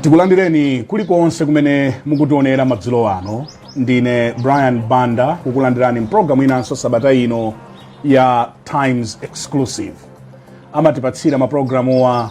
tikulandireni kulikonse kumene mukutionera madzulo ano ndine brian banda kukulandirani mpulogalamu inanso sabata ino ya times exclusive amatipatsira mapulogalamuwa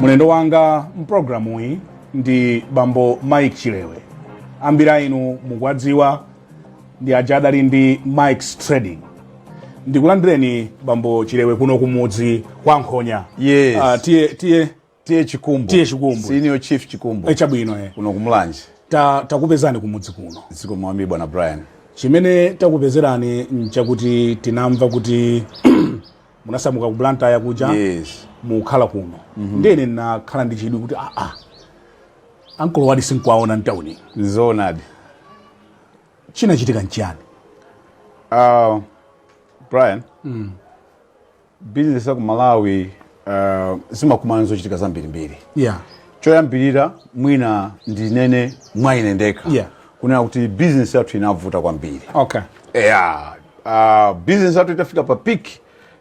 mlendo wanga mpulogalamuyi ndi bambo mike chilewe ambiri a inu mukuwadziwa ndi aja adali ndi Mike's Trading ndikulandireni bambo chilewe kuno kumudzi kwa nkhonya Yes. Ah, tiye tiye tiye chikumbu Tiye Chikumbu. senior chief chikumbu Eh, chabwino eh. kuno kumulanje Ta- takupezani kumudzi kuno zikomo kwambiri bwana brian chimene takupezerani nchakuti tinamva kuti munasamuka ku blantyre kuja yes mukhala kuno ndene nakhala ndi chidwi kuti aa ankolo awadi sindikuwaona mtauni zoonadi chinachitika nchiyani uh, brian mm. bizinesi ya ku malawi uh, imakumana ndi zochitika zambirimbiri yeah. choyambirira mwina ndinene mwa ine ndekha yeah. kunena kuti bizinesi yathu inavuta kwambiri okay. yeah. uh, bizinesi yathu itafika pa piki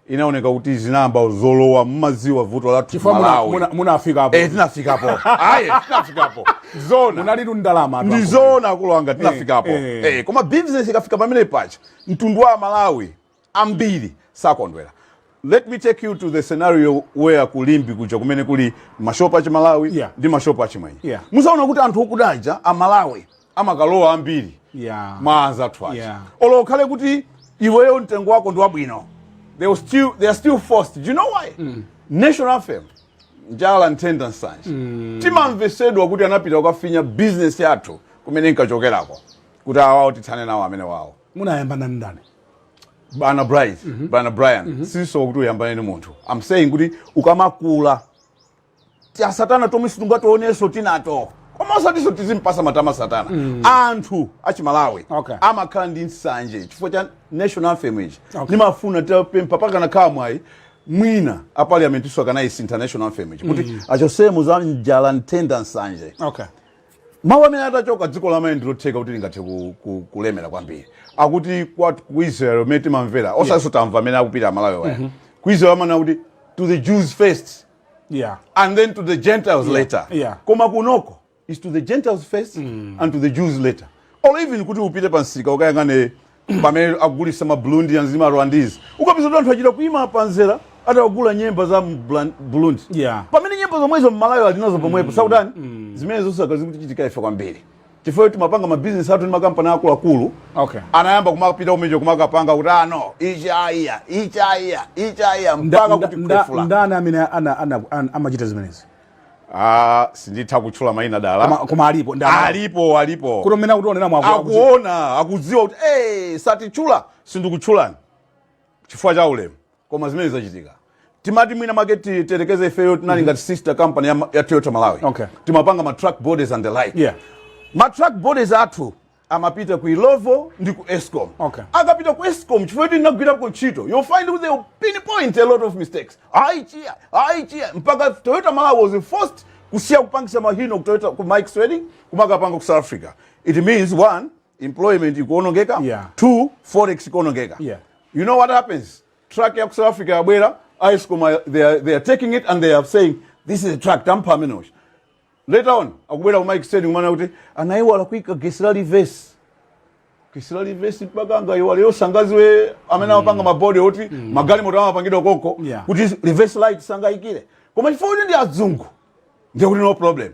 inaoneka kuti zinayamba zolowa mukudziwa vuto lathu chifukwa muna- malawi muna- munafikapo Eh, tinafikapo aye tinafikapo zona munalitu ndalama ndi zoona akulu anga tinafikapo eh. Eh, koma business ikafika pamene paja mtundu wa malawi ambiri sakondwera let me take you to the scenario where kulimbi kuja kumene kuli mashopu achimalawi Yeah. ndi mashopu achimwenye Yeah. mudzaona kuti anthu akuda aja amalawi amakalowa ambiri yeah. mwa anzathu aja yeah. olo ukhale kuti iweyo mtengo wako ndi wabwino they, will still, they are still forced do you know why mm. national anthem njala nthenda nsanje mm. timamvesedwa kuti anapita kukafinya bizinesi yathu kumene inkachokerako kuti awawo tithane nawo amene wawo munayambana ndani bwana bright mm -hmm. bwana brian mm -hmm. siso kuti uyambane ni munthu i'm saying kuti ukamakula tidya satana tomwe sitingationenso tinato koma osatiso tizimpatsa matama satana anthu achimalawi Okay. amakhala ndi nsanje chifukwa cha national anthem ichi Okay. ndimafuna nditapempha pakanakhala mwayi mwina a parliament iso akanayisintha national anthem ichi kuti achotsemo za njala nthenda nsanje okay mawu amene atachoka dziko la malawi ndilotheka kuti lingathe ku- ku- kulemera kwambiri akuti kwa- ku israel umene timamvera posachedwa tamva amene akupita amalawi waya ku israel amanena kuti to the jews first yeah. and then to the gentiles yeah. later yeah. koma kunoko is to the gentiles first mm. and to the jews later or even kuti upite pa msika ukayang'ane pamene akugulisa ma Burundians ndi ma Rwandese ukapeza kuti anthu achita kuima pa mzere ati akugula nyemba za m'Burundi yeah. pamene nyemba zomwezo Mmalawi alinazo pomwepo mm. sakutani mm. zimene zonse zikutichitikira ife kwambiri chifukwa choti timapanga mabizinesi athu ndi makampani akuluakulu Okay. anayamba kumapita kumeneko kumakapanga kuti ah no ichi aiya ichi aiya ichi aiya Nda- mpaka nda- kuti nda- kukufoola ndani amene ana- ana- an- amachita zimenezi Ah, sinditha kutchula mayina Koma- dala koma alipo ndani alipo alipo kuti amene akutionera mwako akuona akudziwa kuti hey, satitchule sindikutchulani chifukwa cha ulemu koma zimene zimachitika timati mwina make ti- tiyerekeze ifeyo tinali ngati sister company ya, ma- ya toyota malawi Okay. timapanga ma truck bodies and the like Yeah. ma truck bodies athu amapita ku ilovo ndi ku escom Okay. akapita ku escom chifukwa kuti ndinagwirako ntchito you'll find kuti they pinpoint a lot of mistakes ayi chiya ayi chiya mpaka toyota malawi was forced kusiya kupangisa ma Hino ku toyota ku Mike's Trading kumakapanga ku south africa it means one employment ikuonongeka yeah. two forex ikuonongeka yeah. you know what happens truck ya ku south africa yabwera Escom they are, they are taking it and they are saying this is a truck tampa amene later on akubwera ku Mike's Trading kumanena kuti anaiwala kuika getsi la reverse getsi la reverse mpaka angaiwale iwo sangaziwe amene amapanga mm. mabodi oti mm. magalimoto amapangidwa koko yeah. kuti reverse light sangaikire koma chifukwa kuti ndi azungu ndiye kuti no problem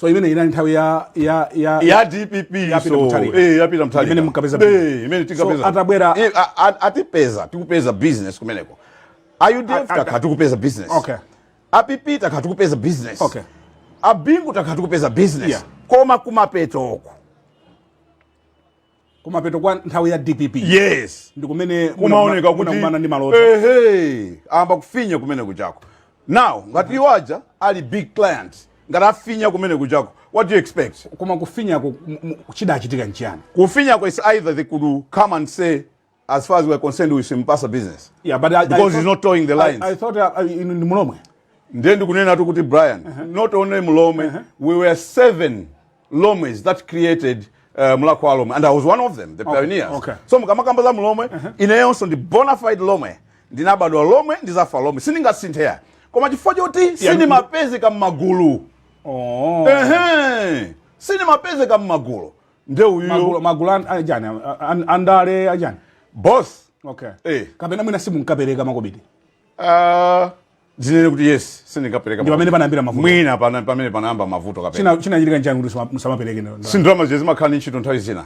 so imene inali nthawi ya ya ya ya DPP ya Peter so Mutharika. eh ya Peter Mutharika Imene mukapeza business. eh imene tikapeza So, atabwera- Eh, a- a- atipeza tikupeza business kumeneko a UDF A- a- takhala tikupeza business Okay. a PP takhala tikupeza business Okay. a Bingu takhala tikupeza business Yeah. koma kumapeto uku kumapeto kwa nthawi ya dpp yes ndikumene kumaoneka kuti kuma escom ndi ma water ayamba kufinya kumene kuchako now ngati iwo aja ali big client ngati afinya kumene kuja ko what do you expect koma kufinyako m- m- chidachitika nchiyani kufinyako is either they could come and say as far as we're concerned tisimpatse business yeah, but I, because I thought, he's not toeing the lines. I, I thought uh, in, ndi Mulomwe. Ndiye ndikunenatu kuti Brian, uh -huh. not only Mulomwe, uh -huh. we were seven Lomwes that created uh, Mulhako wa Lomwe and I was one of them, the okay. pioneers. Okay. So mukamakamba za Mulomwe, uh -huh. ineyonso ndi bona fide Lomwe, ndinabadwa Lomwe, ndizafa Lomwe, sindingasinthe koma chifukwa choti sindimapezeka m'magulu. Oh. Ehe. Sindimapezeka m'magulu. nde iweyo magulu magulu an- achani a- an- andale achani boss okay Eh. kapena mwina simunkapereka makobidi Ah, zinene kuti yes sindinkapereka Ndi pamene panayambira mavuto. mwina pana- pamene panayamba mavuto kapena China- chinachitika nchani kuti musama- musamapereke ndo- ndo- si ndalama zija zimakhala ndi ntchito nthawi zina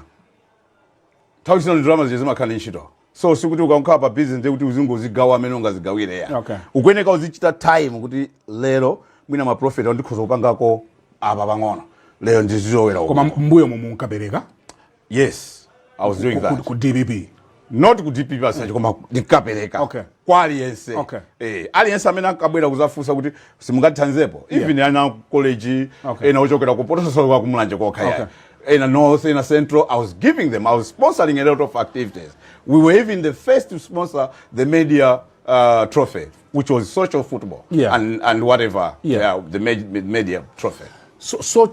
nthawi zina ndi ndalama zija zimakhala ndi ntchito so sikuti ukakhala pa business ndiye kuti uzingozigawa mmene ungazigawire ya Okay. ukuyeneka uzichita time kuti lero mwina maprofit ndikhoza kupangako apa pang'ono lero ndizilowera uku. koma mbuyo momwe munkapereka yes i was doing ku- that ku dpp not ku dpp as such koma ndinkapereka Okay. kwa aliyense Okay. eh, aliyense amene ankabwera kuzafunsa kuti simungatithandizepo even ana college Okay. ena ochokera ku Phalombe osati kumulanje kokha Okay. yeah. ena north ena central i was giving them i was sponsoring a lot of activities we were even the first to sponsor the media uh, trophy which was social football Yeah. and, and whatever Yeah. the med- med- media trophy so, so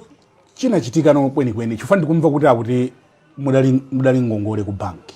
chinachitika no kwenikweni chifukwa ndikumva kuti akuti mudali, mudali ngongole ku banki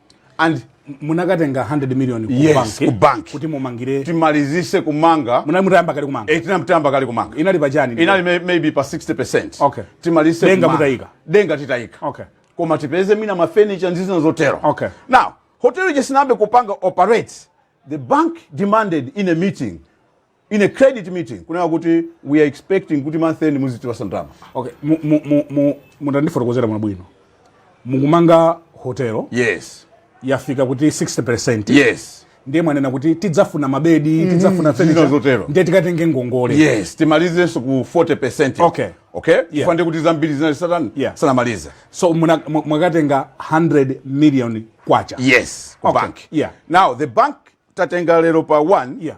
and munakatenga 100 million ku Yes, banki ku banki. kuti mumangire timalizitse kumanga munali mutayamba kale kumanga eh, tinali titayamba kale kumanga inali pachani ndipo? inali may- maybe pa 60 Okay. timalize Denga kumanga. mutayika. denga titayika Okay. koma tipeze mwina mafenicha ndi zina zotero Okay. now hotel ija isanayambe kupanga operate the bank demanded in a meeting in a credit meeting kunena kuti we are expecting kuti month end muzitipatsa ndalama okay mu- mu- mu- mu- mutandifotokozera bwino mukumanga hotelo yes yafika kuti 60 yes ndiye mwanena kuti tidzafuna mabedi tidzafuna Zina furniture, zotero. ndiye tikatenge ngongole yes timalizenso ku 40 percent Okay. okay chifukwa ndi kuti zambiri zinali zisanatani Yeah. sanamalize so muna- mu- mwakatenga 100 million kwacha yes ku Okay. bank Yeah. now the bank tatenga lero pa 1 Yeah.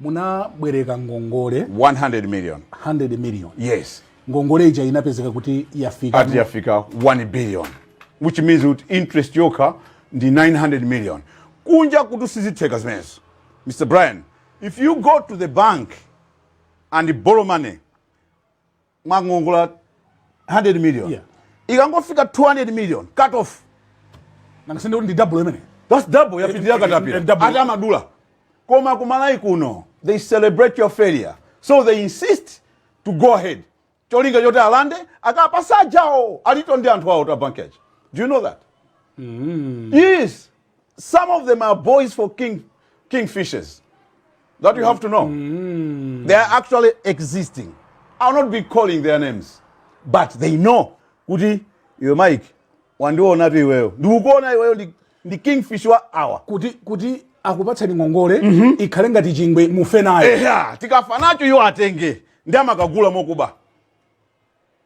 munabwereka ngongole 100 million 100 million yes ngongole ija inapezeka kuti yafika ati yafika 1 billion which means kuti interest yokha ndi 900 million kunja kuno sizitheka zimenezo mr brian if you go to the bank and borrow money mwakongola 100 million yeah. ikangofika 200 million cut off nanga si kuti ndi double imene that's double yapitirira katapira ati amadula koma ku Malawi kuno they celebrate your failure so they insist to go ahead cholinga choti alande akapatse anzawo alitu ndi anthu awo abanki aja do you know that mm. yes some of them are boys for king kingfishers that you have to know mm. they are actually existing i'll not be calling their names but they know kuti iwe mike wandionatu iweyo ndikukuona iweyo ndi- ndi kingfish wa awa kuti kuti akupatsani ngongole ikhale ngati chingwe mufe nayo eya tikafa nacho iwo atenge ndiye amakagula mokuba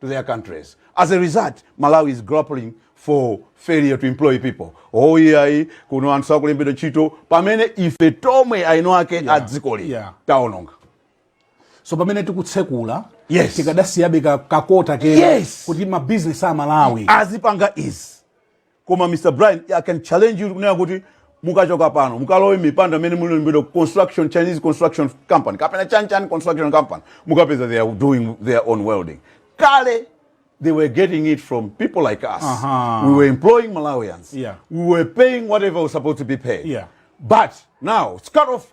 to their countries. As a result, Malawi is grappling for failure to employ people. Oh iyayi kuno anthu sakulembedwa ntchito pamene ife tomwe eni ake yeah. a dzikoli yeah. taononga. So pamene tikutsekula yes. tikadasiyabe kakota kena yes. kuti mabizinesi Amalawi azipanga izi Koma Mr Brian I can challenge you kunena kuti mukachoka pano mukalowe mipando amene mulembedwa construction Chinese construction company kapena chanchan construction company mukapeza they are doing their own welding kale they were getting it from people like us Aha. we were employing Malawians Yeah. we were paying whatever was supposed to be paid Yeah. but now it's cut off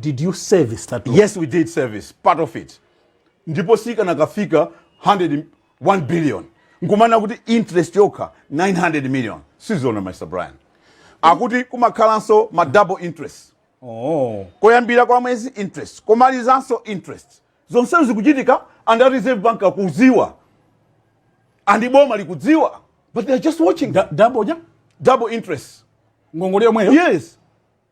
Did you service that loan? Yes, we did service part of it. Ndipo sikanakafika 100 1 billion. Nkumana kuti interest yokha 900 million. Sizona Mr. Brian. Akuti kumakhalanso ma double interest. Oh. Koyambira kwa mwezi interest, komalizanso interest. Zonse zikuchitika and a Reserve Bank akudziwa. And boma likudziwa. But they are just watching. Da double ja? Double interest. Ngongole yomweyo? Yes.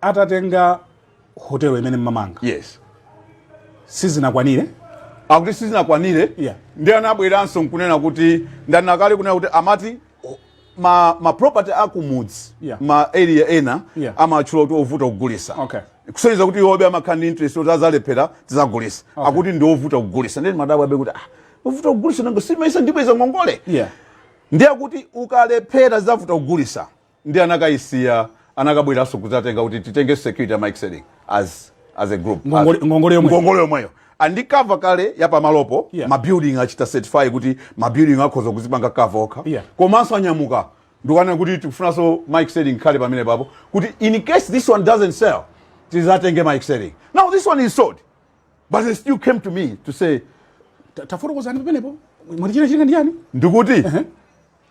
atatenga hotelo imene mmamanga yes sizinakwanire akuti sizinakwanire yeah. ndiye anabweranso nkunena kuti ndanena kale kunena kuti amati ma, ma property akumudzi yeah. ma area ena yeah. amatchula kuti ovuta kugulisa okay kusonyeza kuti iwobe amakhala ndi interest kuti azalephera tizagulisa okay. akuti ndi ovuta kugulisa nde ndimadabwabe kuti ah, ovuta kugulisa nanga si umayesa ndibweza ngongole yeah. ndiye kuti ukalephera zavuta kugulisa nde anakayisiya anakabweranso kuzatenga kuti titenge security ya Mike Selling as as a group ngongole, as, ngongole yomwe ngongole yomweyo and ikukava kale yapamalopo yeah. mabuilding achita certify kuti mabuilding akhoza kuzipanga kava okha yeah. komanso anyamuka nkukanena kuti tikufunanso Mike Selling ikhale pamenepapo kuti in case this one doesn't sell tizatenge Mike Selling now this one is sold but they still came to me to say tafotokozani pamenepo mwati china china ndiyani ndikuti uh -huh.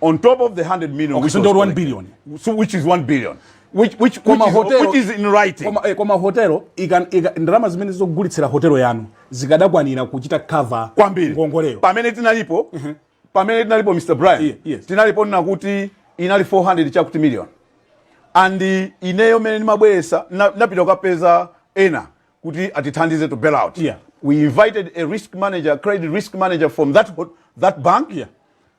on top of the 100 million okay, which so was 1 billion so which is 1 billion which which which, is, hotel, which is in writing koma eh, koma hotelo ikan ndalama zimene zogulitsira hotelo yanu zikadakwanira kuchita cover kwambiri ngongoleyo pamene tinalipo uh mhm. -huh. pamene tinalipo Mr Brian yeah, yes. tinalipo ndinati inali 400 chakuti million and ineyo mmene nimabweza napita na kapeza ena kuti atithandize to bail out yeah. we invited a risk manager credit risk manager from that that bank yeah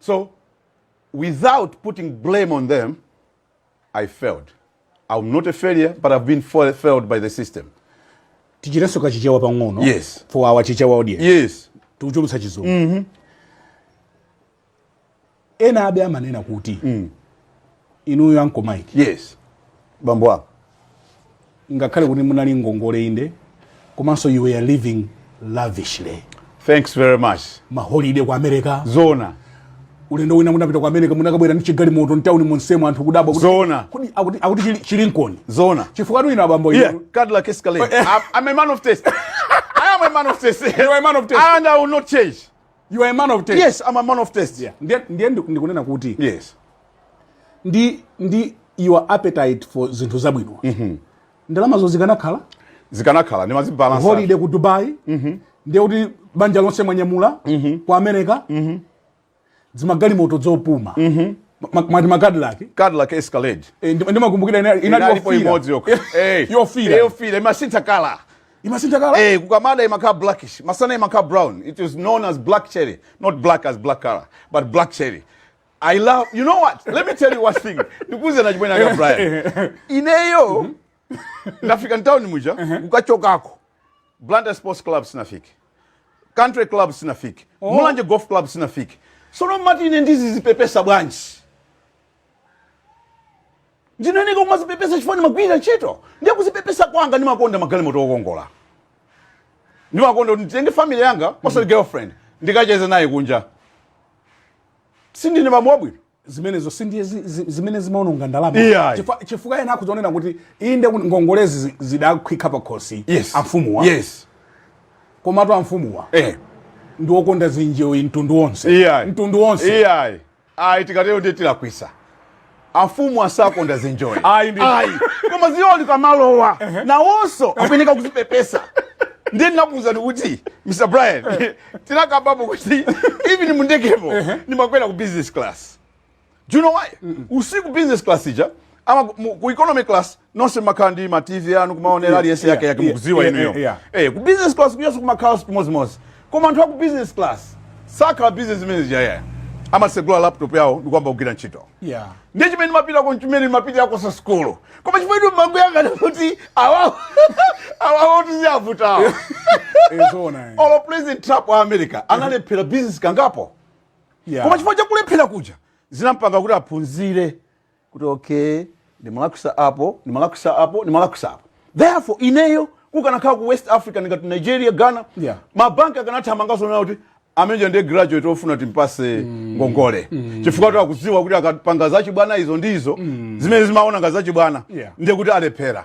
So, without putting blame on them, I failed. I'm not a failure, but I've been fa- failed by the system. tichirenso kachichewa pang'ono Yes. for our chichewa audience Yes. tikuchulutsa chizungu ena abe amanena kuti inuyo anko mike Yes. Bambo wako. ngakhale kuti munali ndi ngongole inde komanso you were living lavishly thanks very much maholide ku america zona ulendo wina munapita ku america munakabwera ndi chigalimoto mtauni monsemu anthu kudabwa kuti- Zoona. kuti akuti- akuti chili- chilinkoni zona chifukwatu inu abambo yeah inu- cadillac escalade I'm, i'm a man of taste i am a man of taste You are a man of taste. and i will not change You are a man of taste. Yes, I'm a man of taste. Yeah. Ndiye ndiye ndi- ndikunena kuti Yes. ndi ndi your appetite for zinthu zabwino. Ndalamazo zikanakhala Zikanakhala ndimazibalansa. holiday ku Dubai. Ndiye kuti banja lonse mwanyamula ku America. Dzimagalimoto dzopuma. Ma- Mati ma Cadillac. Cadillac Escalade. Eh, ndi- Ndimakumbukira ina- inali Inalipo yofira. imodzi yokha. Eh, Yofira. Yofira imasintha kala. imasintha colour eh kukamada imakhala blackish masana imakhala brown it is known as black cherry not black as black color but black cherry i love you know what let me tell you one thing ndikuuze na chimwene anga brian ineyo mhm. ndikafika mtawuni muja uh-huh. kukachokako blantyre sports club sinafike country club sinafike oh. mulanje golf club sinafike sono mmati ine ndizizipepesa bwanji ndimayeneka kumazipepesa chifukwa ndimagwirira ntchito ndiye kuzipepesa kwanga ndimakonda magalimoto okongola ndimakonda kuti nditenge family yanga osati girlfriend ndikacheze naye kunja sindine bambo wabwino zimenezo si ndiye zi- zi- zimene zimaononga ndalama Iyayi. Chifukwa- chifukwa ena akuzonena kuti inde kuti ngongolezi zi- zidafika pa khosi yes amfumuwa yes komatu amfumuwa eh ndi okonda zinjoyi mtundu wonse iyayi mtundu wonse iyayi ayi tikatero ndiye tilakwisa amfumu asakonda zinjoyi ayi koma zioni zikamalowa nawonso akuyeneka kuzipepesa ndiye ndimakuuzani kuti mr brian tinakambapo kuti even mundegemo ndimakwera ku business class do you know why usiku business class ija amati ku economy class nonse mumakhala ndi ma TV anu kumaonera yeah, aliyense yake yake mukuziwa yeah, inuyo yeah, yeah. eh ku business class kuyaso kumakhala chimozimozi koma anthu aku business class sakhala business manager yeye amasegula laptop yawo ndikuyamba kugwira ntchito yeah. ndiye chimene mumapitako chimene mumapitirako si sukulu koma chimene mumangoyang'ana kuti awawo awawo tikuwavuta olo president trump wa america analephera business kangapo yeah. koma chifukwa chakulephera kuja zinamupanga kuti aphunzire kuti okay ndimalakwisa apo ndimalakwisa apo ndimalakwisa apo therefore ineyo kukanakhala ku west africa ngati nigeria ghana Yeah. mabanki akanathamanganso nawo kuti amene uja ndiye graduate ofuna timpatse ngongole chifukwa kuti akudziwa kuti akapanga zachibwana izo ndizo zimene timaona ngati zachibwana Yeah. ndiye kuti alephera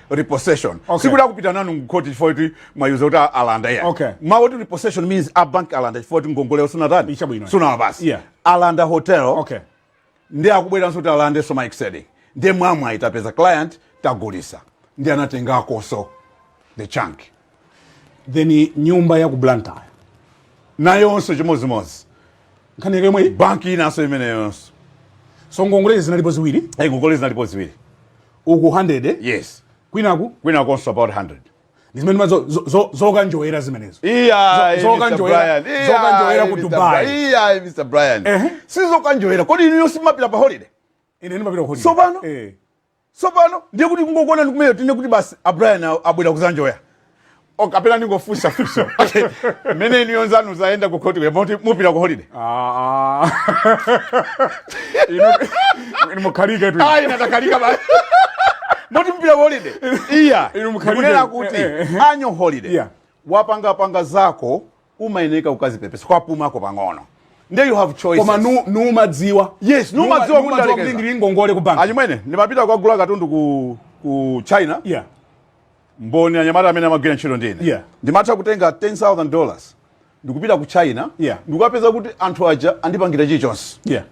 repossession okay. sikuti akupita nanu mukhoti chifukwa kuti mwawauza kuti alanda ya okay. mawu oti repossession means abanki alanda chifukwa kuti ngongole sunatani sunawapatse yeah. alanda hotel okay. ndiye akubweranso kuti alandenso my second ndiye mwamwayi tapeza client tagulitsa ndiye anatengakonso the chunk then nyumba ya ku blantyre nayonso chimodzimodzi nkhani yake yomweyo banki inanso imeneyonso so ngongolezi zinalipo ziwiri ngongolezi zinalipo ziwiri uku 100 eh? yes kwinaku kwinakonso about 100 ndizimene ma- zo- zo- zo- zokanjoyera zimenezo iya Zo- zokanjoyera- zokanjoyera ku Dubai. iya mr brian Ehe. sizokanjoyera kodi inuyo simapita pa holiday ine ndimapita kuholide Tsopano? eh. tsopano ndiye kuti kungokuonani kumeneko tinene kuti basi abrian abwera kuzanjoya Oh, kapena ndingofunsa funso okay. mmene inuyo zanu zayenda ku khoti kuti mupita ku holiday ah, ah. inu mukhaliketu ayi ndinatakhalika ba moti mupita ku holiday iya inu mukhalike kunena kuti eh, eh, eh. annual holiday yeah. wapanga panga zako umayeneka ukazipepesa kwapumako pang'ono nde you have choices koma inu mumadziwa yes mumadziwa kuti ndalekeza ndili ndi ngongole ku bank achimwene ndimapita kukagula katundu ku ku China yeah mboni anyamata amene amagwira ntchito ndi ine Yeah. ndimatha kutenga 10000 dollars ndikupita ku china Yeah. ndikukapeza kuti anthu aja andipangira chilichonse yeah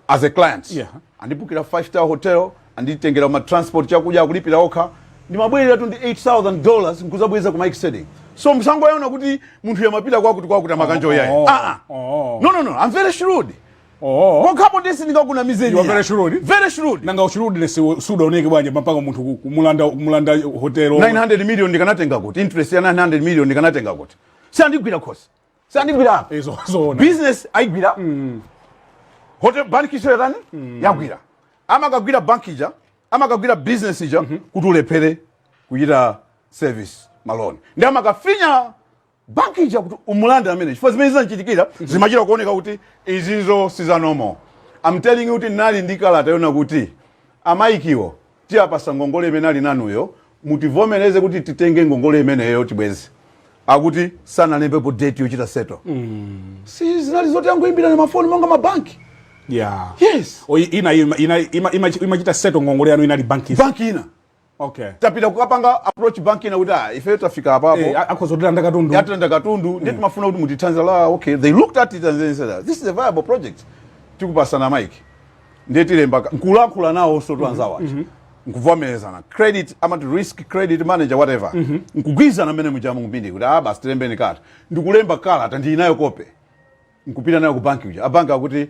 as a client Yeah. andibukira 5 star hotel anditengera ma transport chakudya akulipira okha ndimabwereratu ndi 8000 dollars nkuzabweza ku my savings so musangoona kuti munthuyo amapita kwakuti kwakuti amakanjoya iyayi oh, ah, ah. oh. no no no i'm very shrewd Oh. Pokhapo ndiye sindingakunamizeni. Iwe very shrewd. Very shrewd. Nanga ushrewdness sudaoneke bwanji mpaka munthu ku- kumulanda kumulanda hotel. 900 million ndikanatenga kuti interest ya 900 million ndikanatenga kuti siandigwira khosi siandigwira apa Izo zoona. business ayigwira hotel bank isayatani yagwira amakagwira bank ija amakagwira business ija kuti ulephere kuchita service maloni ndi amakafinya banki ija kuti umulande ameneyo chifukwa zimene zinandichitikira zimachita kuoneka kuti izizo si za normal I'm telling you kuti ndinali ndi kalata yonena kuti amayikiwo tiwapatsa ngongole imene ali ndi inuyo mutivomereze kuti titenge ngongole imeneyo tibweze akuti sanalembepo date yochita settle si zinali zoti angoyimbirana mafoni monga mabanki yeah yes O, i- ina ima- ina- ima- ima- imachita settle ngongole yanu inali banki banki ina okay tapita kukapanga approach bank ina kuti ah ife tafika apapo eh, akhoza kutilanda katundu atilanda katundu mm. ndiye timafuna kuti mutithandize la okay they looked at it and they said ah, this is a viable project tikupatsani Mike ndiye tilemba nkulankhula nawo so twanzawa mm -hmm. mm -hmm. nkuvomerezana credit amati risk credit manager whatever mm -hmm. nkugwirizana mmene mujamu ku Mbindi kuti ah basi tilembeni kalata ndikulemba kalata ndili nayo kope nkupita nayo ku banki uja a banki akuti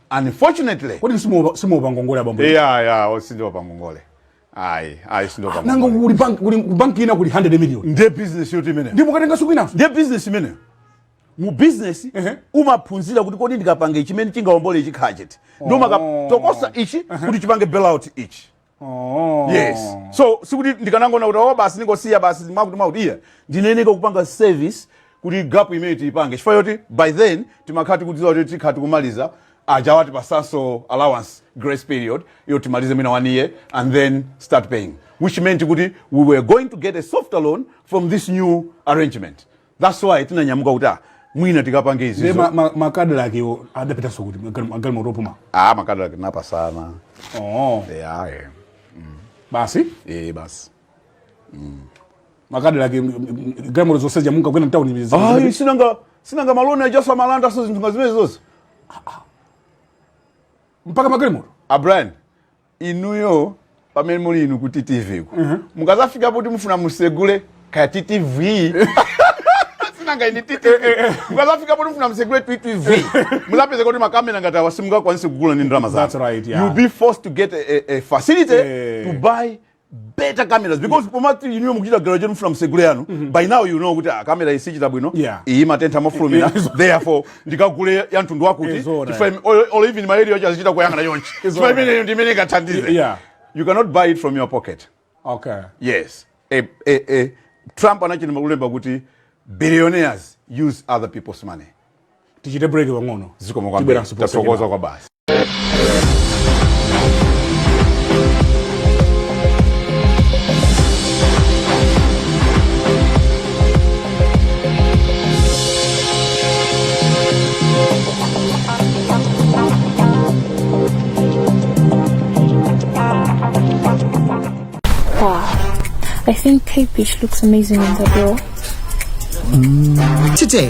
Unfortunately. Kodi simuopa simuopa ngongole abambo? Eh ya ya oh sindiopa ngongole. Ayi, ayi sindiopa ah, ngongole. Nanga kuli bank kuli bank ina kuli 100 million. Ndiye business yoti imene. Ndipo mukatenga tsiku lina. Ndiye business imeneyo. Mu business uh -huh. umaphunzira kuti kodi ndikapange chimene chingaombole ichi n'chiti. Ndiye oh. umakatokosa ichi uh -huh. kuti chipange bailout ichi. Oh. yes so sikuti ndikanangonena kuti oh basi ndingosiya basi mwakuti mwakuti iya ndinayeneka kupanga service kuti gap imene tiyipange chifukwa yoti by then timakhala tikudziwa kuti tikhala tikumaliza aja atipatsanso allowance grace period yoti timalize mwina one year and then start paying which meant kuti we were going to get a softer loan from this new arrangement thats why tinanyamuka kuti ah, mwina tikapange Nde izizo ma- ma- ma Cadillac adapitanso kuti magal- magalimoto opuma ah, ma Cadillac tinapasana oh. yeah, eh. basi Eh, basi ma Cadillac galimoto zonse zija munkakwera mtauni Ayi, sinanga sinanga ma loan ajaso amalanda so zinthu nga zimene zonse mpaka magalimoto a Brian inuyo pamene muli inu ku ttv ku mukazafika kuti mufuna musegule kaya ttv sinanga ini ttv mukazafika kuti mufuna musegule ttv muzapeza kuti makamera ngati awa simungakwanise kugula ndi ndalama That's right, yeah. you be forced to get a, a, a facility Eh. to buy better cameras because yeah. pomati inuyo mukuchita graduate mfuna msegule yanu mm -hmm. by now you know kuti ah, kamera isichita bwino yeah. iyi imatentha mofulumira therefore ndikagule ya mtundu wakuti chifukwa or even mayedio acho azichita kuyang'ana chonchi chifukwa imeneyo ndi imene ikathandize yeah. you cannot buy it from your pocket okay. yes a, eh, a, eh, a, eh, trump anachita kulemba kuti billionaires use other people's money tichite break pang'ono zikomo kwambiri Tibweranso posa tathokoza kenako. kwabasi Wow. I think Kate Beach looks amazing in the girl. Today,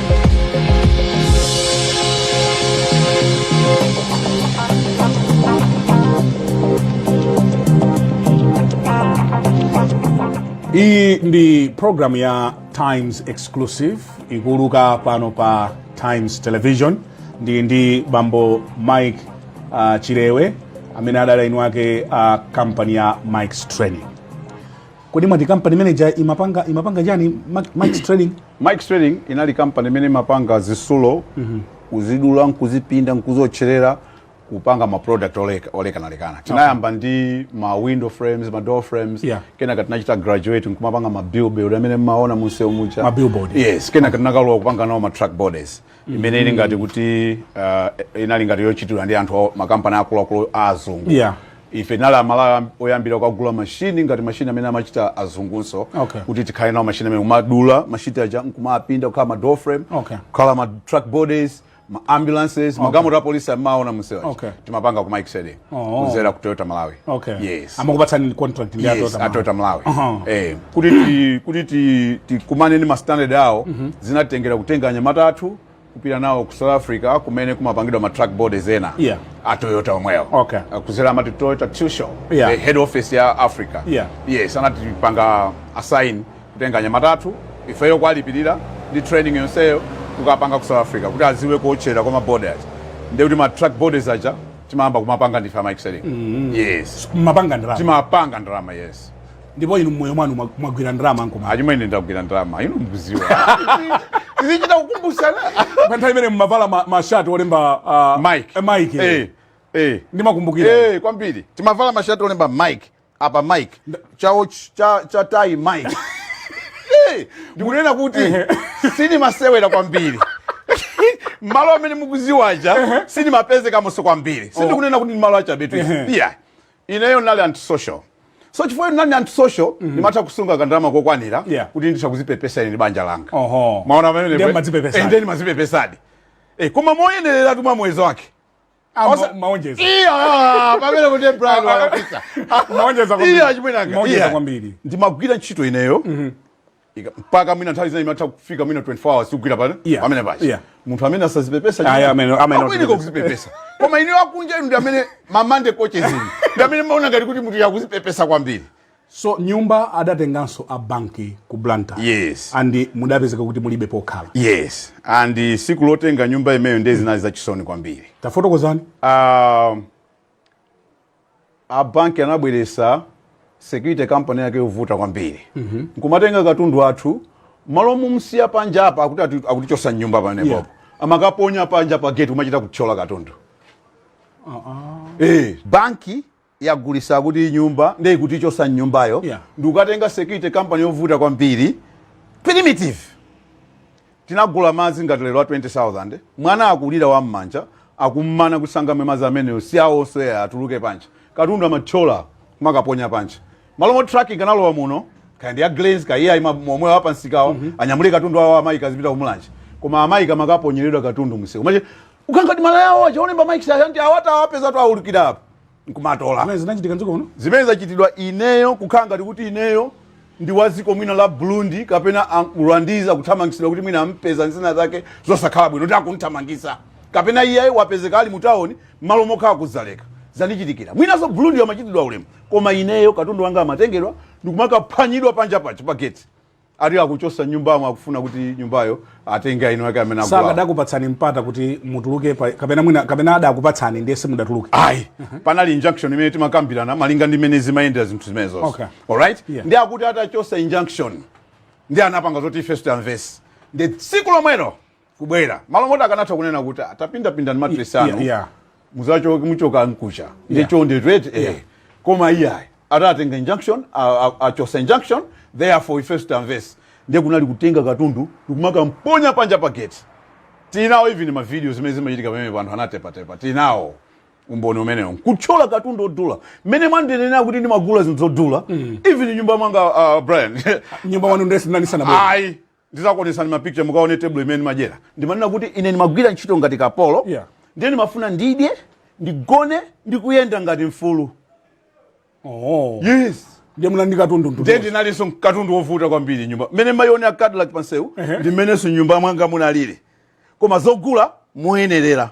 iyi ndi programu ya times exclusive ikuuluka pano pa times television ndili ndi bambo mike uh, chilewe amene adali mwini wake a uh, kampani ya mike's trading Kodi mwati company imene ija imapanga imapanga chani Mike's Trading? Mike's Trading inali company imene imapanga zisulo mm -hmm. kuzidula nkuzipinda nkuziotcherera kupanga ma product olekana lekana tinayamba okay. ndi ma window frames ma door frames yeah. kenaka tinachita graduate nkumapanga ma billboard amene mmaona munsewu muja ma billboard yes kenaka tinakalowa kupanga nawo ma truck bodies imene ili ngati kuti uh, inali ngati yochitidwa ndi anthu a- makampani akuluakulu a azungu Yeah. ife tinali amalawi oyambira kukagula mashini ngati mashini amene amachita azungunso Okay. kuti tikhale nawo mashini amene kumadula mashini aja nkumapinda kukhala ma door frame Okay. kukhala ma truck bodies ma ambulances magalimoto a polisi amaona msewu Okay. timapanga ku Mike's Trading Oh. kuzera ku toyota malawi okay yes amakupatsani contract ndi yes, ato- atoyota malawi Aha. eh, kuti ti- kuti ti- tikumane ndi mastandard awo zinatengera kutenga anyamata athu kupita nawo ku south africa kumene kumapangidwa ma truck bodies ena Yeah. a toyota omwewo Okay. Ah, kuzera amati toyota tsusho Yeah. the head office ya africa Yeah. yes anatipanga assign kutenga anyamata athu ifeyo kwalipirira ndi training yonseyo kukapanga ku south africa kuti aziwe kuotchera kwa ma bodies ndekuti ma truck bodies aja timayamba kumapanga ndife a mike's trading mm-hmm. yes mmapanga ndalama timapanga ndalama yes ndipo inu mmoyo mwanu mwa- mwagwira ndalama nkoma achimwene ndagwira ndalama inu mkuziwa tizichita kukumbusana pa nthawi imene mumavala ma- mashati olemba ah, Mike. eh, mike eh eh ndimakumbukira eh kwambiri timavala mashati olemba mike apa mike chawo cha, cha tayi mike Eh, ndikunena kuti sindimasewera kwambiri malo amene mukuziwaja sindimapezekamonso kwambiri sindikunena kuti ndi malo achabetu iya ineyo ndinali antisocial so chifukwa ndinali antisocial ndimatha kusunga kandalama kokwanira Yeah. kuti nditha kuzipepesa ine ndi banja langa Oho. mwaona Ndiye mmadzipepesadi. ndimazipepesadi koma moyenereratu mwa muyezo wake Osa- maonjeza Iya, ah, pamene kuti Brian wakapisa. maonjeza kwambiri. Iya, chimwene anga. Maonjeza Iya. kwambiri ndimagwira ntchito ineyo Ika- mpaka mwina nthawi zina imatha kufika mwina 24 hours tikugwira pale Yeah. pamene pachi Yeah. munthu amene asazipepesa Ayi, amene- amene akuyeneka kuzipepesa koma inuyo akunja inu ndi amene ma monday coaches inu ndi amene mmaona ngati kuti munthuyu akuzipepesa kwambiri So nyumba adatenganso a banki ku Blantyre. Yes. And mudapezeka kuti mulibe pokhala. Yes. And siku lotenga nyumba imeyo ndiye zinali za chisoni kwambiri. Tafotokozani. Uh, a banki anabweresa security company yake yovuta kwambiri. Mm -hmm. Nkumatenga katundu wathu malo mumsiya panja apa akuti akutichosa mnyumba pamenepo. Yeah. Amakaponya panja pa gate kumachita kuthyola katundu. Uh -uh. Eh, banki yagulisa kuti nyumba nde ikutichosa mnyumbayo yeah. ndikukatenga security company yovuta kwambiri primitive tinagula madzi ngati lero a 20000 mwana akulira wa mmanja akummana kuti sangamwe madzi amenewo si awo onse atuluke panja katundu amathyola kumakaponya panja malo moti truck ikanalowa muno kaya ndi ya glens kaya iye ayima momwe apamsikawa mm -hmm. anyamule katundu awo a mike azipita kumulanje koma a mike amakaponyeredwa katundu msewu mache kukhala kuti malaya awo aja olemba mike's aja anthu awa- awapeza atawulukira apa nkumatola Zimene zinachitika mdziko muno. zimene zachitidwa ineyo kukhala ngati kuti ineyo ndi wa dziko mwina la burundi kapena a- rwandese akuthamangitsidwa kuti mwina ampeza nzina zake zosakhala bwino kuti akumthamangisa kapena iye wapezeka ali mutawoni malo mokhala kudzaleka zanichitikira mwinanso burundi amachitidwa ulemu koma ineyo katundu wanga amatengedwa ndikumakaphwanyidwa panja paja pa geti ati akuchosa nyumbamo akufuna kuti nyumbayo atenge ena ake amene agulawo sakadakupatsani mpata kuti mutuluke pa- kapena mwina kapena adakupatsani ndiye simudatuluke ayi panali injunction imene timakambirana malinga ndi mmene zimayendera zinthu zimenezozi Okay. alright Yeah. ndi akuti atachosa injunction ndi anapanga zoti ife osamvanso ndi tsiku lomwelo kubwera malo moti akanatha kunena kuti "Ah, tapindapindani matresi Yeah, anu yeah. muzachoke muchoka mkucha Yeah. ndichonde twete eh. koma iyayi atatenga injunction a- a- achosa injunction therefore ife sitamvesa ndiye kunali kutenga katundu ndikumakamponya panja pa gate tinawo even mavidiyo zimene zimachitika pamenepa anthu anatepatepa tinawo umboni umenewo kuthyola katundu odula mmene mwandinenera kuti ndimagula zinthu zodula even mnyumba mwanga uh, brian mnyumba mwanu ndesi mnanisana bwino ayi Ndizakuonetsani ma picture mukaone table imene ndimadyera. Ndimanena kuti ine ndimagwira ntchito ngati kapolo Yeah. ndiye ndimafuna ndidye, ndigone ndi kuyenda ngati mfumu. Oh. Yes. Ndiye munali ndi katundu ndu. Ndiye ndinalinso katundu wovuta kwambiri mnyumba. Mmene imaonekera a Cadillac pansewu ndi mmenenso mnyumba mwanga munalili. Koma zogula moyenerera.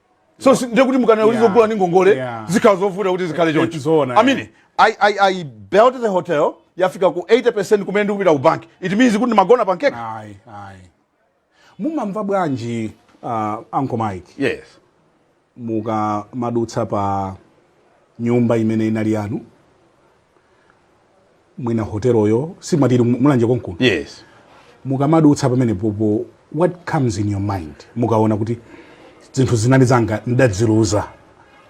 so si- ndiye kuti mukanena kuti Yeah. zogula ndi ngongole Yeah. zikhala zovuta kuti zikhale choncho Zoona, i mean yeah. I, I, i built the hotel yafika ku 80% kumene ndikupita ku bank it means kuti ndimagona pankeke ayi ayi mumamva bwanji uh, uncle mike yes mukamadutsa pa nyumba imene inali yanu mwina hoteloyo si mwati ili mu- mulanje konkuno yes mukamadutsa pamenepopo what comes in your mind mukaona kuti zinthu zinali zanga ndaziluza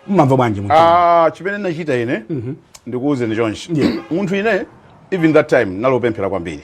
mmamva bwanji munthu? Ah, chimene nachita ine ndikuwuzeni chonchi munthu ine even that time ndinali opemphera kwambiri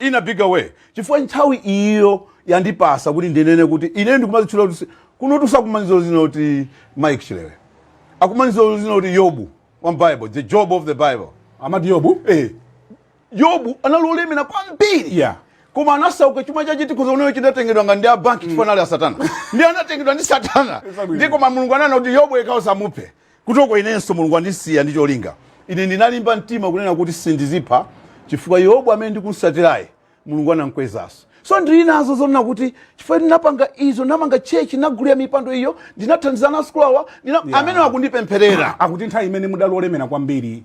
in a bigger way chifukwa nthawi iyo yandipatsa kuti ndinene kuti ine ndikumazitchula kuti si- kunotu sakundidziwanso dzina kuti mike chilewe akundidziwanso dzina kuti yobu wa bible the job of the bible amati yobu eh. yobu anali olemera kwambiri Yeah. koma anasauka chuma chache tikhoza kunena chinatengedwa ngati ndi a banki chifukwa anali a satana ndi anatengedwa ndi satana Zabwino. ndi koma mulungu ananena kuti yobu yekha osamupha Kutoko inenso Mulungu wandisiya ndi cholinga. Ine ndinalimba mtima kunena kuti sindizipha chifukwa Yobu amene ndikumsatirayi Mulungu anamkwezaso. So ndili nazo zonena kuti chifukwa ndinapanga izo, ndinamanga church, ndinagulira mipando iyo, ndinathandiza ana a sukulu awa, ndina, Yeah. amenewa akundipempherera. Akuti nthawi imene mudali olemera kwambiri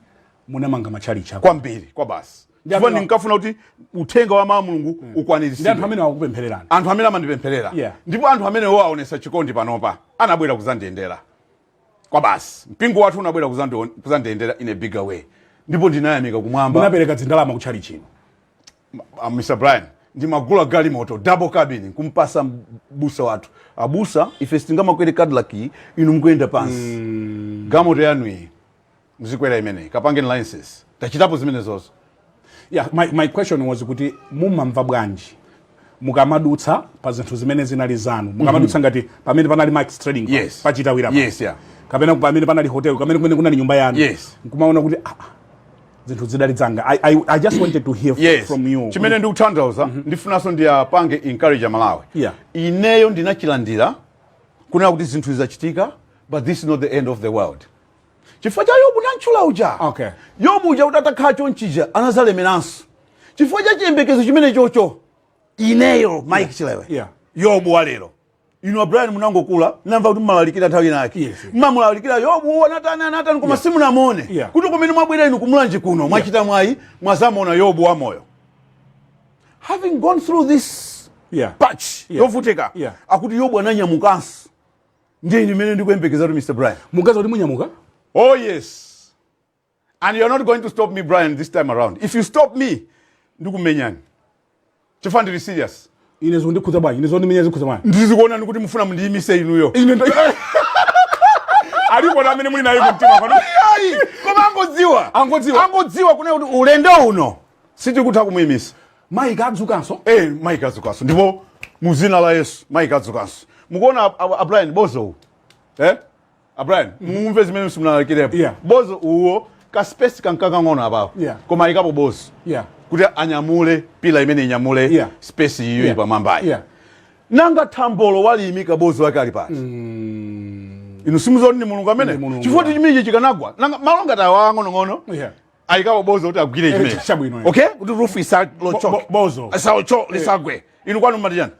munamanga matchalitchi akulu kwambiri kwa basi Ndi chifukwa amene- ndinkafuna kuti uthenga wa mulungu Ndi anthu ukwaniritsidwe amene akupemphererani. anthu amene amandipempherera Yeah. ndipo anthu amenewo aonesa chikondi panopa anabwera kuzandiyendera kwa basi mpingo wathu unabwera kuzandion- kuzandiyendera in a bigger way ndipo ndinayamika kumwamba munapereka zindalama ku tchalitchi inu uh, Mr. Brian ndimagula galimoto double cabin kumpatsa m'busa wathu abusa ife sitingamakwere cadillac iyi, inu mukuyenda pansi galimoto yanu iyi mzikwera imeneyi kapangeni licences tachitapo zimenezozo yeah, my, my question was kuti mumamva bwanji mukamadutsa pa zinthu zimene zinali zanu mukamadutsa ngati pamene panali Mike's trading pa- Yes. pachitawira pa. Yes, yeah. kapena pamene panali hotel kamene kumene kunali nyumba yanu Yes. nkumaona kuti ah, ah, zinthu zidali zanga I, I, i just wanted to hear yes. from you chimene ndikutanthauza ndifunanso ndiyapange encourage malawi Yeah. ineyo ndinachilandira kunena kuti zinthu zachitika but this is not the end of the world chifukwa cha yobu nantchula uja Okay. yobu uja uti atakhala chonchija anazalemeranso chifukwa cha chiyembekezo chimene chocho ineyo mike chilewe Yeah. yobu walero inu a brian munangokula nkumva kuti mumalalikira nthawi inake Yes, yes. mumamulalikira yobu anatani anatani koma simunamuone Yeah. kuti kumene mwabwera inu kumulanje kuno mwachita mwayi mwazamuona yobu wamoyo having gone through this Yeah. patch Yeah. yovutika Yeah. akuti yobu ananyamukanso ndiye ine imene ndikuyembekeza kuti mr brian mugaza kuti munyamuka oh yes and you're not going to stop me brian this time around if you stop me ndikumenyani chifukwa ndili serious ine zondikhudza bwanji ine zondimenya zikhudza bwanji ndizikuonani kuti mufuna mundiyimise inuyo ine ndo- alipo amene muli naye kumtima pano koma angodziwa Angodziwa. angodziwa kunena kuti ulendo uno sitikutha kumuimisa mike adzukanso eh mike adzukanso ndipo mu zina la yesu mike adzukanso mukuona a- a- a brian bozo uwu eh a brian mumve zimene simunalakirepo Yeah. bozo uwo ka space kankakang'ono apapo Yeah. koma ayikapo bozo yeah kuti anyamule pila imene inyamule Yeah. space iyo ili yeah pamwambayi yeah nanga thambolo waliyimika bozo wake ali pati inu simuzoni ni mulungu Ni amene Mulungu, chifukwa yeah. chimitchi chikanagwa nanga malo ngati awa ang'onong'ono yeah ayikapo bozo kuti agwire Eh, chimene chabwino, eh. okay kuti roof Bo- isachoke bo- bozo. isachoke lisagwe inu kwanu mumati chiyani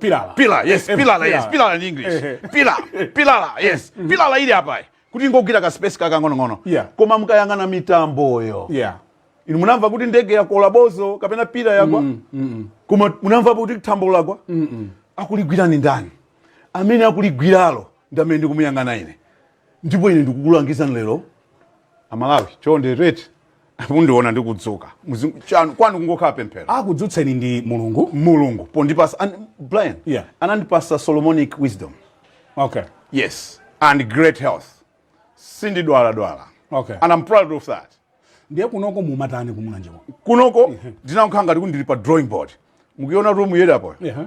pilala pila yes Eh, pilala yes pilala. pilala in english Eh, eh. pila pilala yes pilala ili apa kuti ingogwira ka space kakang'onong'ono Yeah. koma mukayang'ana mitamboyo yeah inu munamva kuti ndege yakola bozo kapena pila yagwa koma munamva kuti thambolo lagwa akuligwira ni ndani amene akuligwiralo ndi amene ndikumuyang'ana ine ndipo ine ndikukulangizani lero amalawi chonde muti mundiona ndikudzuka Muzi- chanu- kwanu kungokhala pemphero akudzutseni ndi mulungu mulungu pondipasa and brian Yeah. anandipasa solomonic wisdom okay yes and great health sindidwaladwala Okay. and i'm proud of that ndiye kunoko mumatani kumulanje kuno kunoko ndinankhala ngati kuti ndili pa drawing board mukuiona room yedapo yeah.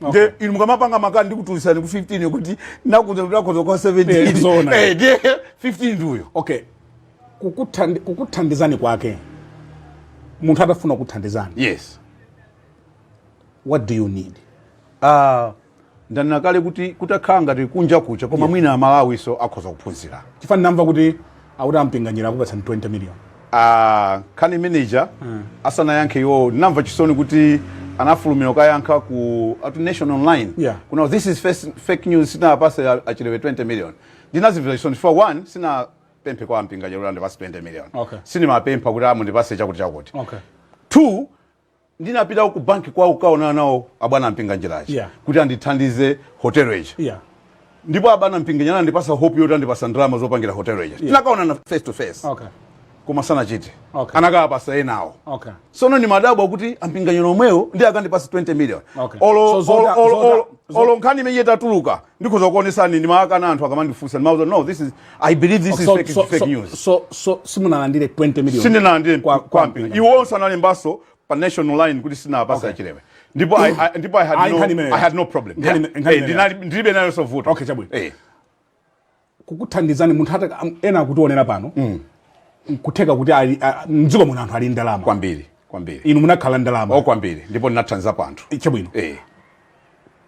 nde inu mukamapanga makani ndikutulisani ku 15 kuti nakhoza nakhoza kwa 17 Eh, zoona. Eh, ndiye 15 ndiyo okay Kukuthandi- kukuthandizani kwake munthu atafuna kuthandizani yes what do you need uh, ndanena kale kuti kutakhala ngati kunja kucha koma yeah. mwina amalawiso akhoza kuphunzira chifukwa ndinamva kuti akuti a mpinganjira akupatsani 20 million ah, nkhani imene ija mm. asanayankhe iwowo ndinamva chisoni kuti anafulumira kukayankha ku atu nation online yeah. kunena this is first, fake news sinapase a chilewe 20 million ndinazimvera chisoni chifukwa one sinapemphe kwa a mpinganjira kuti andipase 20 million okay. sinimapempha kuti mundipase chakuti chakuti okay. two ndinapitako ku banki kwawo kukaonana nawo abwana mpinganjira aja Yeah. kuti andithandize hotelo ija yeah ndipo abwana mpinganjira anandipasa hope yoti andipasa ndalama zopangira hotelo ija tinakaonana face to face okay koma sanachite Okay. anakawapasa enawo okay sono nimadabwa kuti a mpinganjira omwewo ndiye akandipase 20 million Okay. So olo nkhani imeneyi itatuluka ndikhoza kuonesani ndimakana anthu akamandifunsa ndimawauza no this is I believe this is fake, fake news. So so simunalandire 20 million. Sindinalandire kwa kwa mpinga. Iwonso analembaso pa nation online kuti sinapasa okay. A Chilewe. Ndipo I, I ndipo I had I no I had no problem. Hey, ndinali ndilibe nayoso vuto. Okay, chabwino. Eh. Kukuthandizani munthu hata ena akutionera pano. Mm. Kutheka kuti ali mdziko muno anthu ali ndalama. Kwambiri, kwambiri. Inu munakhala ndalama. Oh, kwambiri. Ndipo ndinathandizapo anthu. Chabwino. Eh.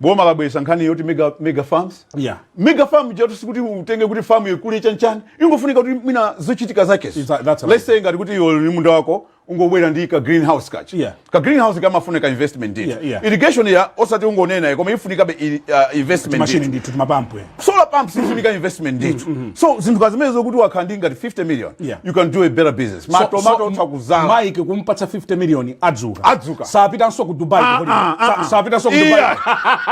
boma labweresa nkhani yoti mega, mega farms yeah. mega farm jatu sikuti utenge kuti farm ikule chani chani ingofunika kuti mwina zochitika zakezo That's right. let's say ngati kuti iwe ni munda wako ungobwera ndi ka greenhouse kachi Yeah. ka greenhouse kamafuna ka investment ndithu Yeah, yeah. irrigation ya osati ungonena koma ifunikabe i- uh, investment machine ndithu. ndithu timapampu eh. solar pumps zifunika investment ndithu so zinthu ngati zimenezo kuti wakhala ndi ngati 50 million Yeah. you can do a better business So- matomatoso utha kuzala mike kumpatsa 50 million adzuka Adzuka. sapitanso ku dubai Ah, kuholiday. ah, ah, Sa- ah. sapitanso ku Iya. dubai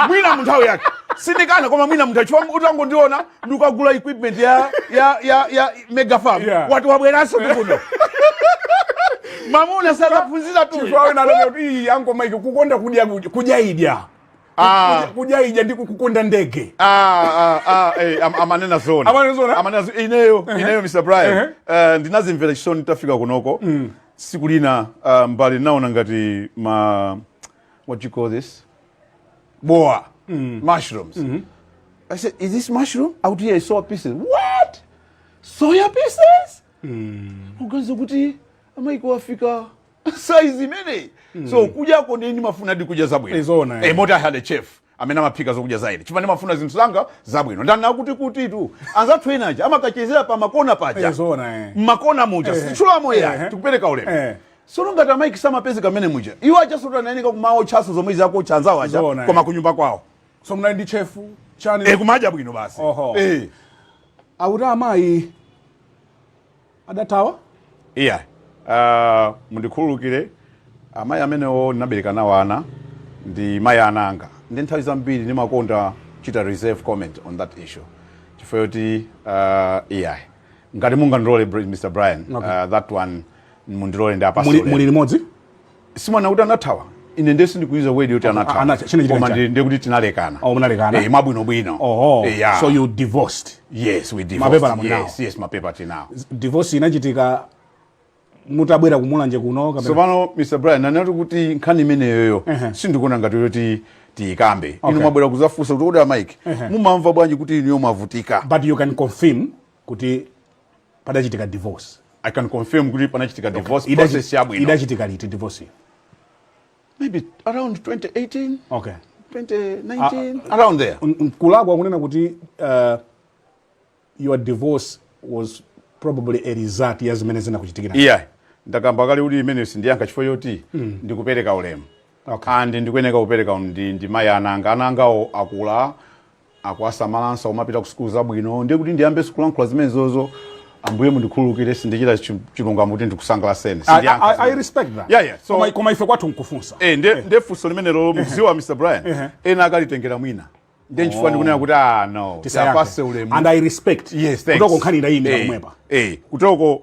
mwina munthawi yake sindikana koma mwina munthawi chifukwa utangondiona ndikagula equipment ya ya ya ya mega farm Yeah. wati wabweranso ndikuno mamuna sakaphunziratu Chifukwa wina anati, "Ii, yango mike kukonda kudya kudya- kudyaidya Ah. kudyaidya ndi kukonda ndege ah, ah, ah, eh, am- amanena zona Amanena zona? Amanena zo- ineyo ineyo mr brian eh, ndinazimvera chisoni tafika kunoko siku lina ah, m'mbale naona ngati ma what you call this bowa mushrooms i said is this mushroom out here soya pieces what soya pieces uganiza kuti a mike afika saizi imeneyi mm. so kudyako ndiye ndimafuna ndi kudya zabwino Izona, eh. eh, moti I had a chef amene amaphika zokudya za ine chifukwa ndimafuna zinthu zanga zabwino ndanena kuti kutitu anzathu enaja amakachezera pa makona paja Izona, eh. mmakona muja Eh. sichula mowa Eh. tikupereka ulemu Eh. sono ngati a mike samapezeka mmenemuja iwo achasota nayenika kumawotchaso zomwe akuwotcha anzawo aja Izona, eh. koma kunyumba kwawo so munali ndi chefu chani eh, kumadya bwino basi Oho. eh. akuti amayi adathawa iya uh, mundikhululukire amayi amenewo ndinabereka nawo ana ndi mayi a ana anga nde nthawi zambiri ndimakonda chita reserve comment on that issue chifukwa yoti uh, iya ngati mungandilole Br- mr brian Okay. uh, that one mundilole ndiwapase ulemu. muli limodzi simwana kuti anathawa ine nde sindikuyuza word yoti anathawa ana- chine chine koma chani? ndi- ndiye kuti tinalekana Oh, munalekana. eh, mwabwino bwino oho Eh, yeah. so you divorced yes we divorced. Mapepala muli nawo? yes yes mapepala tinawo divorce inachitika mutabwera ku mulanje kuno kapena tsopano mr brian ndanenatu kuti nkhani imeneyoyo Ehe. sindikuona ngati yoti tiyikambe inu Okay. mwabwera kuzafunsa kuti kodi a mike mumamva bwanji kuti inuyo mwavutika but you can confirm kuti padachitika divorce i can confirm kuti panachitika divorce Idachi- process yabwino idachitika liti divorce maybe around 2018 okay 2019 around there N- nkulakwa kunena kuti uh, your divorce was probably a result ya zimene zinakuchitikira iya ndakamba kale kuti imeneyo sindiyankha chifukwa choti ndikupereka ulemu Okay. and ndikuyeneka kupereka ndi, ndi mayi a ana anga ana angawo akula akuwasamalanso akumapita ku sukulu zabwino ndiye kuti ndiyambenso kulankhula zimenezozo ambuye mundikhululukire sindichita chi- chilungamo kuti ndikusangalaseni I, Sindiyankha I, I zimenezo. respect that. Yeah, yeah. So- koma, koma ife kwathu nkufunsa Eh, nde nde funso limenelo mukuziwa mr brian Ehe. ena akalitengera mwina nde nchifukwa ndikunena kuti ah no Tisayankhe. apase ulemu and i respect yes thanks kutoko nkhani ndayimira Eh, pomwepa eh, kutoko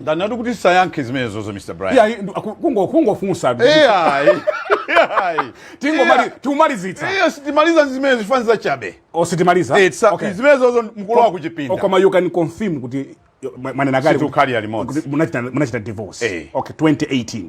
ndanenatu kuti tisayankhe zimenezozo mr brian iyayi ndu- aku- kungo- kungofunsatu. iyayi iyayi Tingomali- tikumalizitsa iyo sitimaliza zimene zifani za chabe Oh, sitimaliza Eh, sa- Okay. zimenezozo mkulu wa kuchipinda Oh, koma you can confirm kuti yo- mwa- mwanena kale Sitikukhalira limodzi. kuti munachita munachita divorce Eh. okay 2018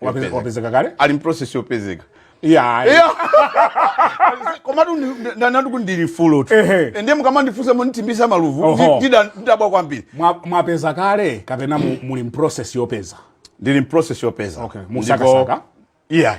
Wape- Yopezeka. wapezeka kale ali mprocess yopezeka iya komatu ndanenatu kuti ndili fulo tu Ehe. ndiye mukamandifunsa munitimbisa maluvu Oho. ndi- ndida- ndidabwa kwambiri Mwa- mwapeza kale kapena mu- muli mprocess yopeza ndili mprocess yopeza Okay, Ndipo- musakasaka? iya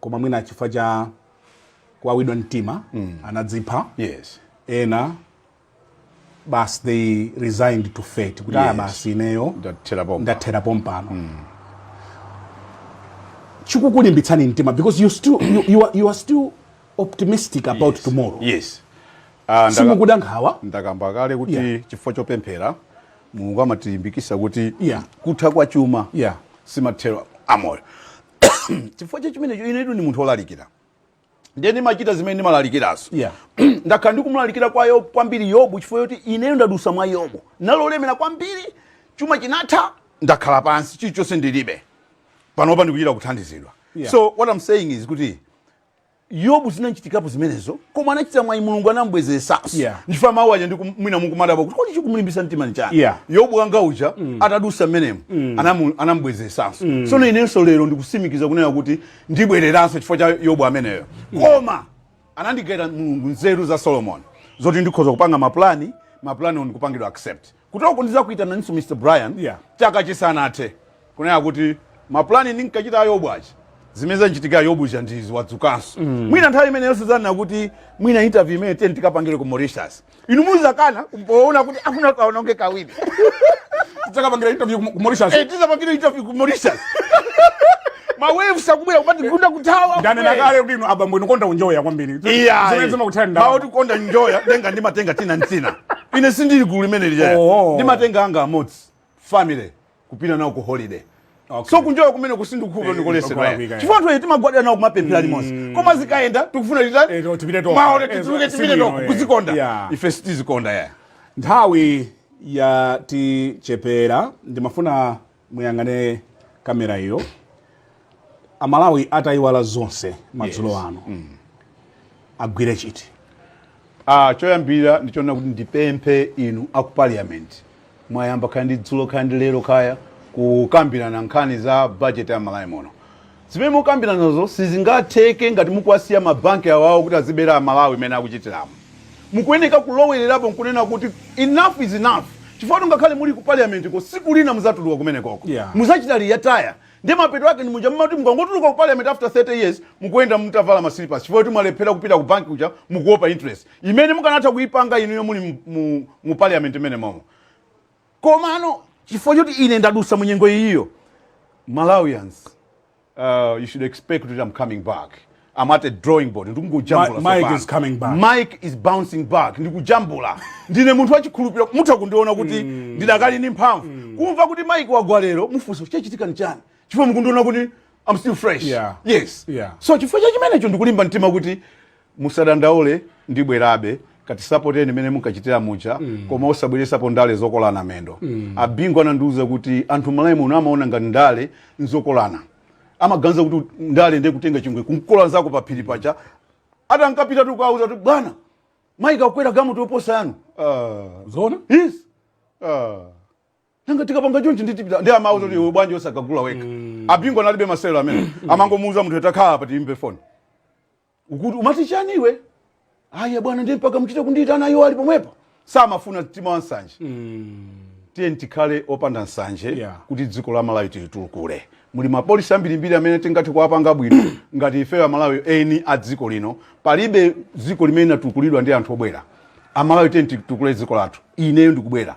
koma mwina chifukwa cha kuwawidwa mtima mm. anadzipha yes. ena basi they resigned to fate kuti ah, yes. basi ineyo ndathera pompano mm. chikukulimbitsani mtima because you, still, you, you, are, you are still optimistic about yes. tomorrow yes. uh, ah, simukuda nkhawa ndakamba kale kuti yeah. chifukwa chopemphera mulungu amatilimbikisa kuti yeah. kutha kwa chuma yeah. si mathero a moyo chifukwa cha chimenecho inetu ndi munthu olalikira ndiye ndimachita zimene ndimalalikirazo yeah. ndakhala ndikumulalikira kwa yobu kwambiri yobu chifukwa yoti ineyo ndadusa mwa yobu nali olemera kwambiri chuma chinatha ndakhala pansi chilichonse ndilibe panopa ndikuchita kuthandizidwa yeah. so what i'm saying is kuti yobu zinanchitikapo zimenezo koma anachita mwayi mulungu anamubwezeresanso Yeah. nchifukwa mawu aja ndiku- mwina mukumadabwa kuti kodi chikumulimbitsa mtima ni chani Yeah. yobu wanga uja atadusa mmenemo anamu- anamubwezeresanso so inenso lero ndikusimikiza kunena kuti ndibwereranso chifukwa cha yobu ameneyo koma anandigaira mulungu nzeru za solomoni zoti ndikhoza kupanga mapulani mapulani ndi kupangidwa accept Kutiko ndizakuitananinso Mr Brian yeah. chaka chisanathe kunena kuti mapulani ndinkachita a Yobu aja zimene zanchitikira Yobu zija ndi izi wadzukanso mm. mwina nthawi imeneyo sizanena kuti mwina interview imeneyi tiye tikapangire ku Mauritius inu muzakana poona kuti akuna kaononge kawiri tidzakapangira interview ku Mauritius eh, tidzapangire interview ku Mauritius ma waves akubwera kumatigunda kuthawa ndanena kale kuti inu abambo inu mumakonda kunjoya kwambiri zimene zimakuthani ndalama. mawu oti kukonda kunjoya denga ndimatenga tina ntina ine sindili gulu limene lijaya Oh. ndimatenga anga amodzi family kupita nawo ku holiday Okay. so kunjoya kumene kusindikhuva Eh, ndikulesedwa kukwalakwika, eh. chifukwa anthu eti timagwada nawo kumapemphera limodzi koma zikayenda tikufuna Eh, to- tipite tokha. maote Eh, tituluke si tipite bwino, toko eh. kuzikonda Yeah. ife sitizikonda ya nthawi yatichepera ndimafuna muyang'ane kamera iyo amalawi atayiwala zonse madzulo Yes. ano agwire chiti Ah, choyambira ndi chonena kuti ndipemphe inu aku parliament mwayamba kaya ndi dzulo kaya ndi lero kaya kukambirana nkhani za budget ya malawi muno Zimene mukukambiranazo sizingatheke ngati mukuwasiya ma bank awawo kuti aziwabera a Malawi mmene akuchitiramo. Mukuyeneka kulowererapo nkunena kuti enough is enough chifukwa choti ngakhale muli ku parliament ko siku lina muzatuluka kumenekoko Yeah. muzachita ritaya ndiye mapeto ake ndi muja mumati mukangotuluka ku parliament after 30 years mukuyenda mutavala ma slippers chifukwa choti mwalephera kupita ku bank kuja mukuopa interest imene mukanatha kuipanga inuyo muli mu, mu, mu parliament mmene momo Komano chifukwa choti ine ndadusa mu nyengo iyiyo, Malawians, uh, you should expect that I'm coming back. I'm at a drawing board ndikungojambula Mike sopano. is coming back. Mike is bouncing back ndikujambula ndine munthu wachikhulupiriro mutha kundiona kuti ndidakali ndi mphamvu kumva kuti Mike wagwa lero mufunsa chachitika ni chani chifukwa mukundiona kuti I'm still fresh Yeah. yes Yeah. so chifukwa cha chimenecho ndikulimba mtima kuti Musadandaule ndibwerabe katisapoteni mmene munkachitira muja mm. koma osabweresapo ndale zokolana mendo mm. abingu anandiuza kuti anthu malawi muno amaona ngati ndale nzokolana amaganiza kuti ndale ndiye kutenga chingwe kumkola nzako pa phiri paja atankapita tikuwauza kuti bwana Mike akwera galimoto yoposa yanu uh, zona yes uh, nanga tikapanga chonchi ndiye tipita ndiye amawauza kuti mm. bwanji osakagula wekha mm. abingu analibe masewero amene mm. amangomuuza munthu atakhala apa tiimbe foni ukuti umati chani iwe aya bwana ndiye mpaka mchite kundiitana iwo ali pomwepa samafuna mtima wa nsanje mm. tiyeni tikhale opanda nsanje yeah. kuti dziko la malawi tilitukule muli mapolisi ambirimbiri amene tingathe kuwapanga bwino ngati ifeyo amalawi eni a dziko lino palibe dziko limene linatukulidwa ndi anthu obwera amalawi tiyeni titukule dziko lathu ineyo ndikubwera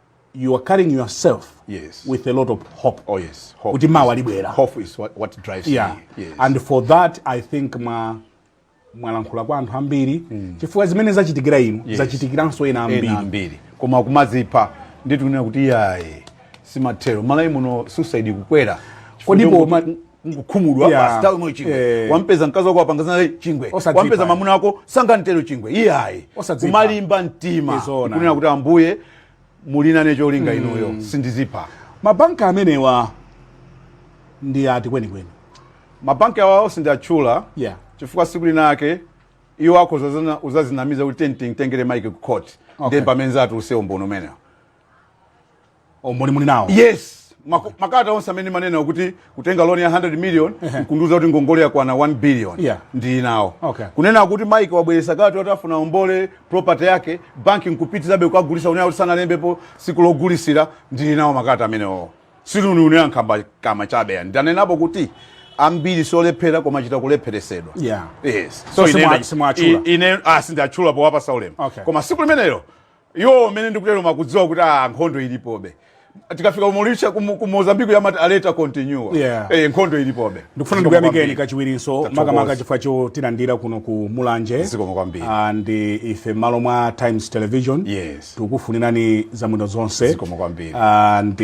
you are carrying yourself yes. with a lot of hope. Oh yes, hope. Kuti mawa libwera. Hope is what, what drives yeah. me. Yes. And for that I think ma mwalankhula kwa anthu ambiri mm. chifukwa zimene zachitikira inu yes. zachitikiranso ena ambiri. Ena ambiri. Koma kumadzipha nditunena kuti iyayi si mathero malawi muno suicide kukwera. Kodipo kungokhumudwa yeah. basi tawamwe chingwe yeah. wampeza mkazi wako wapanga zina chingwe Osadzipa. wampeza mamuna wako sanga ntero chingwe iyayi Osadzipa. kumalimba mtima Izona. kunena kuti ambuye muli nacho linga mm. inuyo sindidzipha mabanki amenewa ndi ati kwenikweni mabanki awawo sindiatchula yeah. chifukwa siku linalake iwo akhoza zazana- uzazinamiza kuti timutengere mike ku court Okay. ndiye pamene zatiuza umboni umenewo umboni muli nawo yes Maku- makalata onse amene manena kuti kutenga loan ya 100 million kundiuza kuti ngongole yakwana 1 billion Yeah. ndili nawo Okay. kunena kuti mike wabweresa kalata yoti afuna ombole property yake banki nkupitizabe kukagulisa unena kuti sanalembepo siku logulisira ndili nawo makalata amenewo sikuti nkunena nkhambakamwa chabe ayi ndanenapo kuti ambiri siolephera koma chita kulepheresedwa Yeah. yes So simwa- ine- simwatchula. i- ine ah, sindatchula powapasa ulemu Okay. koma siku limenelo Iwowo mmene ndikuteromu akudziwa kuti ah, nkhondo ilipobe tikafika ku Mauritius ku Mo- ku Mozambique amati aluta continua Yeah. eh, nkhondo ilipobe ndikufuna ndikuyamikeni kachiwirinso Tathokoza. makamaka chifukwa chotilandira kuno ku mulanje Zikomo kwambiri. And ife m'malo mwa times television Yes. tikukufunirani zabwino zonse Zikomo kwambiri. And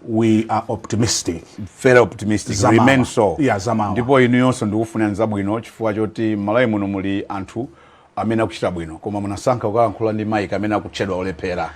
we are optimistic very optimistic Zamawa. remain so Yeah, zamawa. ndipo inuyonso ndikufunirani zabwino chifukwa choti m'malawi muno muli anthu amene akuchita bwino koma munasankha kukalankhula ndi Mike amene akutchedwa olephera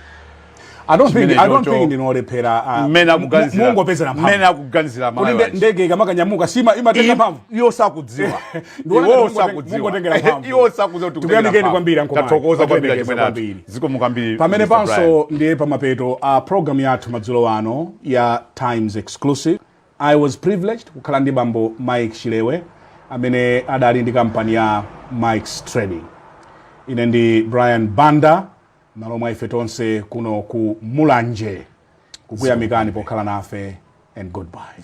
I don't think, I don't think ndinu olephera ah, mmene mu- akuganizira mungopezera mphamvu. mmene akuganizira Kuti Malawi nde- wachi. ndege ikamakanyamuka sima imatenga mphamvu iwo sakudziwa Ndiona iwo kuti mungote- sakudziwa mungotengera mphamvu. iwo sakudziwa kuti Tikuyamikeni kutengera kwambiri, mphamvu. Uncle Mike. tathokoza kwambiri Tathokoza achimene athu kwambiri. zikomo kwambiri pamene Mr. Brian. panso ndiye pamapeto a programu yathu madzulo ano ya times exclusive I was privileged kukhala ndi bambo Mike Chilewe amene adali ndi kampani ya Mike's Trading. Ine ndi Brian Banda malo mwa ife tonse kuno ku Mulanje kukuyamikani pokhala nafe and goodbye.